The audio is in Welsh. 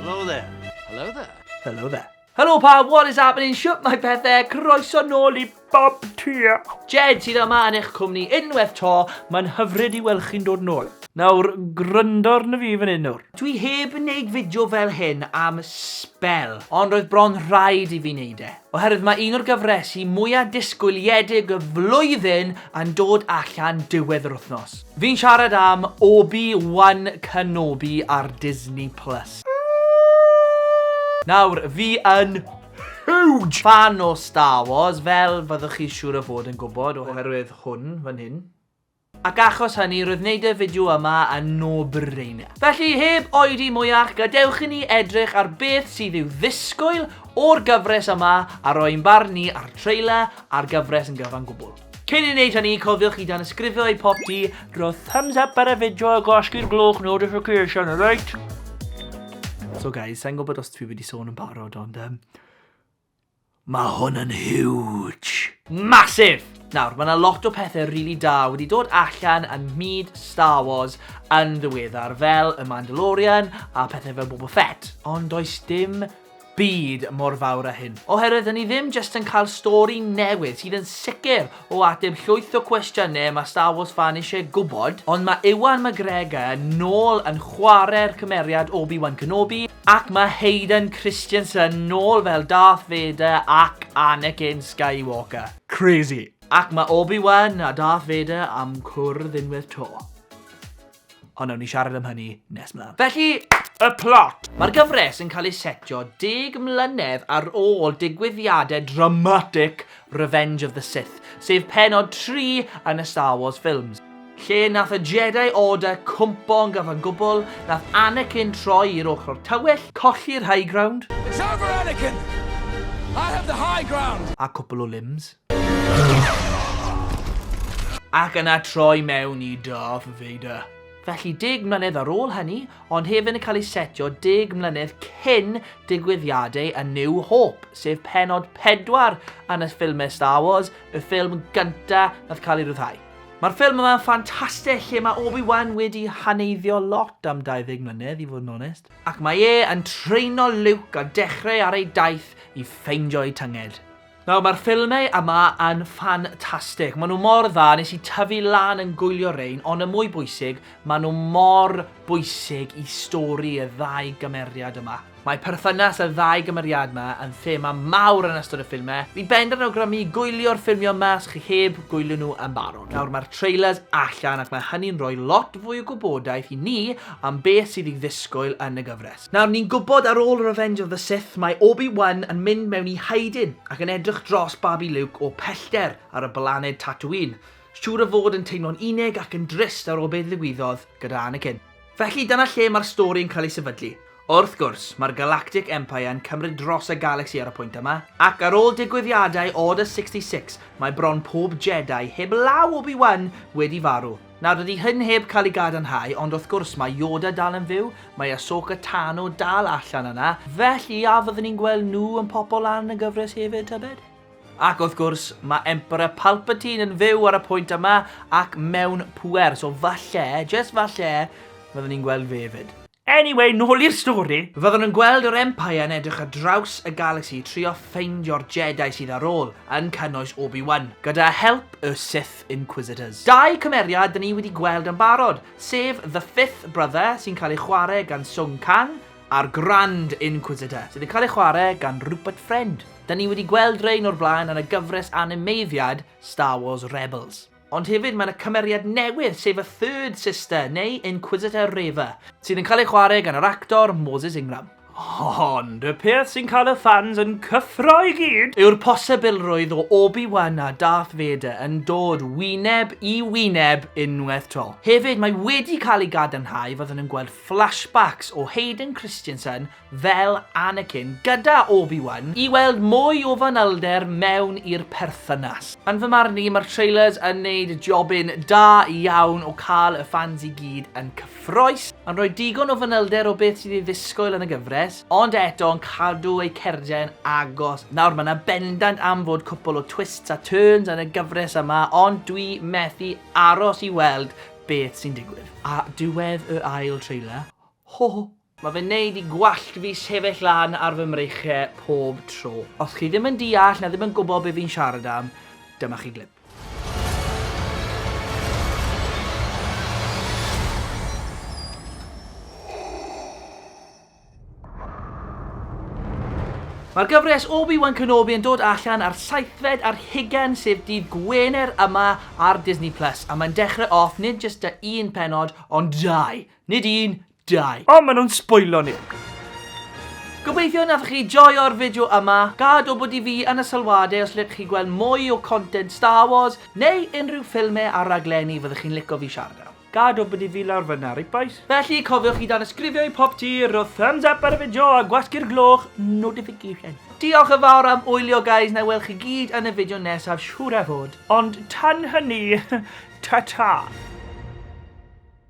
Hello there. Hello there. Hello there. Hello pa, what is happening? Shut my pethau, croeso nôl i bob tia. Jed sydd yma yn eich cwmni unwaith to, mae'n hyfryd i weld chi'n dod nôl. Nawr, gryndor na fi fan hyn nawr. Dwi heb yn neud fideo fel hyn am spel, ond roedd bron rhaid i fi neud e. oherwydd mae un o'r gyfresi mwyaf disgwyliedig y flwyddyn yn dod allan diwedd yr wythnos. Fi'n siarad am Obi Wan Kenobi ar Disney Plus. Nawr, fi yn huge fan o Star Wars, fel fyddwch chi siŵr o fod yn gwybod oherwydd hwn fan hyn. Ac achos hynny, roedd wneud y fideo yma yn no-brainer. Felly, heb oedi mwyach, gadewch i ni edrych ar beth sydd i'w ddisgwyl o'r gyfres yma a rhoi ein barn ni ar trailer a'r gyfres yn gyfan gwbl. Cyn i ni wneud hynny, cofiwch i danysgrifio i Popty, rho thumbs up ar y fideo a gwasgu'r gloch notification, alright? So guys, sa i'n gwybod os dwi wedi sôn yn barod ond yym... Mae hwn yn huge! Massive! Nawr, mae yna lot o pethau rili da wedi dod allan yn myd Star Wars yn ddiweddar fel y Mandalorian a pethau fel Boba Fett, ond does dim byd mor fawr â hyn, oherwydd 'dyn ni ddim jyst yn cael stori newydd sydd yn sicr O ateb llwyth o cwestiynau mae Star Wars fan eisiau gwybod, ond mae Ewan McGregor nôl yn chwarae'r cymeriad Obi-Wan Kenobi, ac mae Hayden Christensen nôl fel Darth Vader ac Anakin Skywalker. Crazy! Ac mae Obi-Wan a Darth Vader am cwrdd unwaith 'to. Ond nawn ni siarad am hynny nes mlaen. Felly, y plot! Mae'r gyfres yn cael ei setio deg mlynedd ar ôl digwyddiadau dramatic Revenge of the Sith, sef pennod tri yn y Star Wars ffilms. Lle nath y Jedi Order cwmpo yn gyfan gwbl, nath Anakin troi i'r ochr tywyll, colli'r high ground, It's over Anakin! I have the high ground! a cwpl o limbs. Ac yna troi mewn i Darth Vader. Felly deg mlynedd ar ôl hynny, ond hefyd yn cael ei setio deg mlynedd cyn digwyddiadau A New Hope, sef pennod pedwar yn y ffilmau Star Wars, y ffilm gynta nath cael ei ryddhau. Mae'r ffilm yma yn ffantastig lle mae Obi-Wan wedi haneiddio lot am 20 mlynedd i fod yn onest. Ac mae e yn traino Luke a dechrau ar ei daith i ffeindio'i tynged. Nawr mae'r ffilmau yma yn ffantastig, maen nhw mor dda, nes i tyfu lan yn gwylio rein, ond y mwy bwysig, maen nhw mor bwysig i stori y ddau gymeriad yma. Mae perthynas y ddau gymeriad yma yn thema mawr yn ystod y ffilmau, fi bendant yn awgrymu gwylio'r ffilmiau yma os chi heb gwylio nhw yn barod. Nawr mae'r trailers allan ac mae hynny'n rhoi lot fwy o gwybodaeth i ni am beth sydd i ddisgwyl yn y gyfres. Nawr, ni'n gwybod ar ôl Revenge of the Sith mae Obi-Wan yn mynd mewn i hiding ac yn edrych dros babi Luke o pellter ar y blaned Tatooine, siŵr o fod yn teimlo'n unig ac yn drist ar ôl be ddigwyddodd gyda Anakin. Felly, dyna lle mae'r stori yn cael ei sefydlu. Wrth gwrs, mae'r Galactic Empire yn cymryd dros y galagsi ar y pwynt yma, ac ar ôl digwyddiadau Order 66 mae bron pob Jedi, heb law Obi-Wan, wedi farw. Nawr, dydy hyn heb cael ei gadarnhau, ond wrth gwrs, mae Yoda dal yn fyw, mae Ahsoka Tano dal allan yna, felly a fyddwn ni'n gweld nhw yn popo lan yn y gyfres hefyd, tybed? Ac wrth gwrs, mae Emperor Palpatine yn fyw ar y pwynt yma ac mewn pŵer, so falle, jyst falle, fyddwn ni'n gweld fe 'fyd. Anyway, nôl i'r stori! Fyddwn yn gweld yr Empire yn edrych ar draws y Galaxy i trio ffeindio'r Jedi sydd ar ôl, yn cynnwys Obi-Wan, gyda help y Sith Inquisitors. Dau cymeriad dyn ni wedi gweld yn barod, sef The Fifth Brother, sy'n cael ei chwarae gan Sung Kang, a'r Grand Inquisitor, sydd yn cael ei chwarae gan Rupert Friend. Dyn ni wedi gweld rhein o'r blaen yn y gyfres animeiddiad Star Wars Rebels. Ond hefyd mae 'na cymeriad newydd sef y Third Sister, neu Inquisitor Reva, sydd yn cael ei chwarae gan yr actor Moses Ingram. Ond y peth sy'n cael y ffans yn cyffro i gyd yw'r posibilrwydd o Obi-Wan a Darth Vader yn dod wyneb i wyneb unwaith 'to. Hefyd mae wedi cael ei gadarnhau fyddwn yn gweld flashbacks o Hayden Christensen fel Anakin gyda Obi-Wan i weld mwy o fanylder mewn i'r perthynas. Yn fy marn i, mae'r trailers yn neud jobyn da iawn o cael y ffans i gyd yn cyffroes, yn rhoi digon o fanylder o beth sydd i ddisgwyl yn y gyfres, ond eto yn cadw eu cardiau yn agos. Nawr, mae 'na bendant am fod cwpwl o twists a turns yn y gyfres yma, ond dwi methu aros i weld beth sy'n digwydd. A diwedd y ail trailer, ho! Mae fe'n neud i gwallt fi sefyll lan ar fy mreichiau pob tro. Os chi ddim yn deall na ddim yn gwybod be fi'n siarad am, dyma chi glip. Mae'r gyfres Obi-Wan Kenobi yn dod allan ar saethfed ar hugen sef dydd Gwener yma ar Disney Plus a mae'n dechrau off nid jyst da un penod ond dau. Nid un, Dau. O, maen nhw'n sbwylo ni! Gobeithio naf chi joio'r fideo yma, gad wybod i fi yn y sylwadau os ydych chi'n gweld mwy o content Star Wars neu unrhyw ffilmau a raglenni fyddwch chi'n licio fi siarad am. Gad wybod i fi lawr fyna, reit bois? Felly, cofiwch i danysgrifio i pob ti, rho thumbs up ar y fideo a gwasgu'r gloch notification. Diolch yn fawr am wylio guys, na i weld chi gyd yn y fideo nesaf siŵr a fod. Ond tan hynny, ta ta!